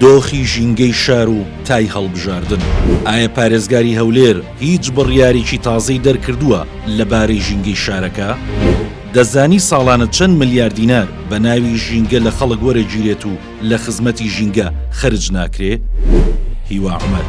دۆخی ژینگەی شار و تای هەڵبژاردن، ئایا پارێزگاری هەولێر هیچ بڕیارێکی تازەی دەرکردووە لەبارەی ژینگەی شارەکە؟ دەزانی ساڵانە چەند ملیار دینار بە ناوی ژینگە لە خەڵک وەرەگیرێت و لە خزمەتی ژینگە خەرج ناکرێ؟ هیوا عومەر،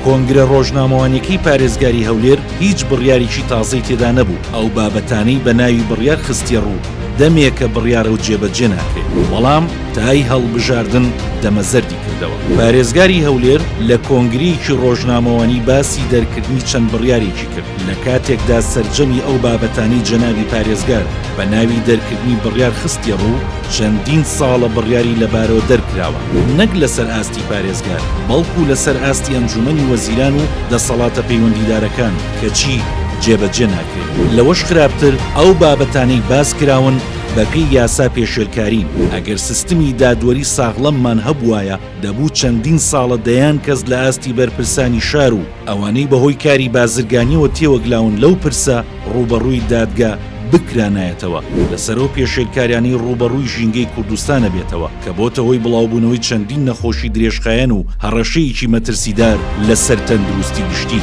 کۆنگرە ڕۆژنامەوانیەکەی پارێزگاری هەولێر هیچ بڕیارێکی تازەی تێدا نەبوو، ئەو بابەتانەی بە ناوی بڕیار خستیەڕوو دەمێکە بڕیارە و جێبەجێ ناکرێ، بەڵام، تای هەڵبژاردن دەمەزەردی کردەوە. پارێزگاری هەولێر لە کۆنگرەیەکی ڕۆژنامەوانی باسی دەرکردنی چەند بڕیارێکی کرد، لە کاتێکدا سەرجەمی ئەو بابەتانەی جەنابی پارێزگار بە ناوی دەرکردنی بڕیار خستیەڕوو، چەندین ساڵە بڕیاری لەبارەوە دەرکراوە، نەک لەسەر ئاستی پارێزگار، بەڵکو لەسەر ئاستی ئەنجومەنی وەزیران و دەسەڵاتە پەیوەندیدارەکان، کەچی جێبەجێ ناکرێن. لەوەش خراپتر ئەو بابەتانەی باسکراون، بەپێی یاسا پێشێلکارین. ئەگەر سیستمی دادوەری ساغڵەممان هەبووایە، دەبوو چەندین ساڵە دەیان کەس لە ئاستی بەرپرسانی شار و ئەوانەی بەهۆی کاری بازرگانییەوە تێوەگلاون لەو پرسە، ڕووبەڕووی دادگا بکرانایەتەوە، لەسەر ئەو پێشێلکاریانەی ڕووبەڕووی ژینگەی کوردستانە بێتەوە. کە بۆتە هۆی بڵاوبوونەوەی چەندین نەخۆشی درێژخایەن و هەڕەشەیەکی مەترسیدار لەسەر تەندروستی گشتی.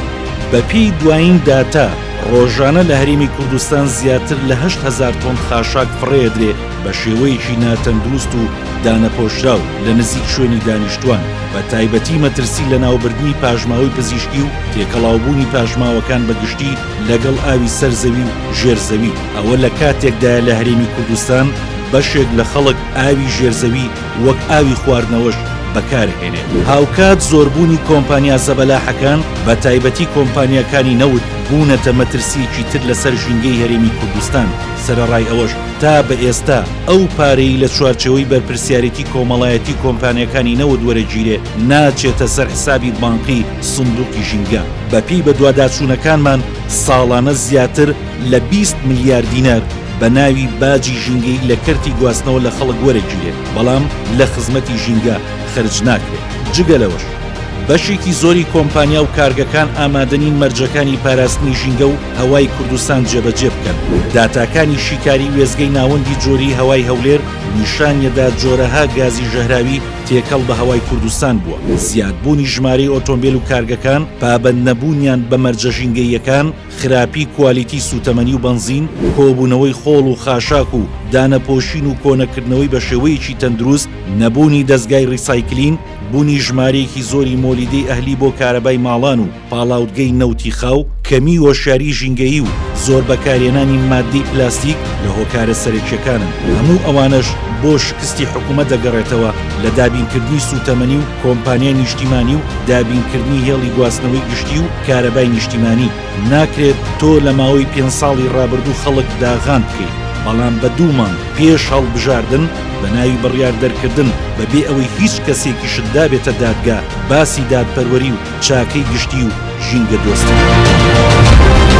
بەپێی دوایین داتا، ڕۆژانە لە هەرێمی کوردستان زیاتر لە هەشت هەزار تۆن خاشاک فڕێدرێ بە شێوەیەکی ناتەندروست و دانەپۆشراو لە نزیک شوێنی دانیشتووان، بە تایبەتی مەترسی لەناوبردنی پاشماوەی پزیشکی و تێکەڵاوبوونی پاشماوەکان بە گشتی لەگەڵ ئاوی سەر زەوی و ژێر زەوی، ئەوە لە کاتێکدایە لە هەرێمی کوردستان بەشێک لە خەڵک. ئاوی ژێرزەوی وەک ئاوی خواردنەوەش بەکارهێنێت. هاوکات زۆربوونی کۆمپانیا زەبەلاحەکان، بە تایبەتی کۆمپانیاکانی نەوت، بوونەتە مەترسییەکی تر لەسەر ژینگەی هەرێمی کوردستان، سەرەڕای ئەوەش تا بە ئێستا ئەو پارەی لە چوارچێوەی بەرپرسیارێتی کۆمەڵایەتی کۆمپانیاکانی نەوت وەرەگیرێ ناچێتە سەر حسابی بانقی سندوقی ژینگە. بەپێی بەدواداچوونەکانمان ساڵانە زیاتر. لە بیست ملیار دینار بە ناوی باجی ژینگەی لە کەرتی گواستنەوە لە خەڵک وەرەگیرێت، بەڵام لە خزمەتی ژینگە خەرج ناکرێت. جگە لەوەش بەشێکی زۆری کۆمپانیا و کارگەکان ئامادە نین مەرجەکانی پاراستنی ژینگە و هەوای کوردستان جێبەجێ بکەن. داتاکانی شیکاری وێستگەی ناوەندی جۆریی هەوای هەولێر نیشانیەدا جۆرەها گازی ژەهراوی تێکەڵ بە هەوای کوردستان بووە. زیادبوونی ژمارەی ئۆتۆمبێل و کارگەکان پابەندنەبوونیان بە مەرجە ژینگەییەکان، خراپی کوالیتی سووتەمەنی و بەنزین، کۆبوونەوەی خۆڵ و خاشاک و دانەپۆشین و کۆنەکردنەوەی بە شێوەیەکی تەندروست، نەبوونی دەزگای ڕیسایکلین، بوونی ژمارەیەکی زۆری مۆلیدەی ئەهلی بۆ کارەبای ماڵان و پاڵاوتگەی نەوتی خاو، کەمیی هۆشیاریی ژینگەیی و زۆر بەکارهێنانی ماددەی پلاستیک لە هۆکارە سەرەکییەکانن، هەموو ئەوانەش بۆ شکستی حکوومەت دەگەڕێتەوە لە دابینکردنی سووتەمەنی و کۆمپانیای نیشتیمانی و دابینکردنی هێڵی گواستنەوەی گشتی و کارەبای نیشتیمانی، ناکرێت تۆ لە ماوەی پێنج ساڵی ڕابردوو خەڵک داغان بکەیت، بەڵام بە دوو مانگ پێش هەڵبژاردن بە ناوی بڕیاردەرکردن بەبێ ئەوەی هیچ کەسێکیشت دابێتە دادگا باسی دادپەروەری و چاکەی گشتی و ژینگەدۆستی بکەیت.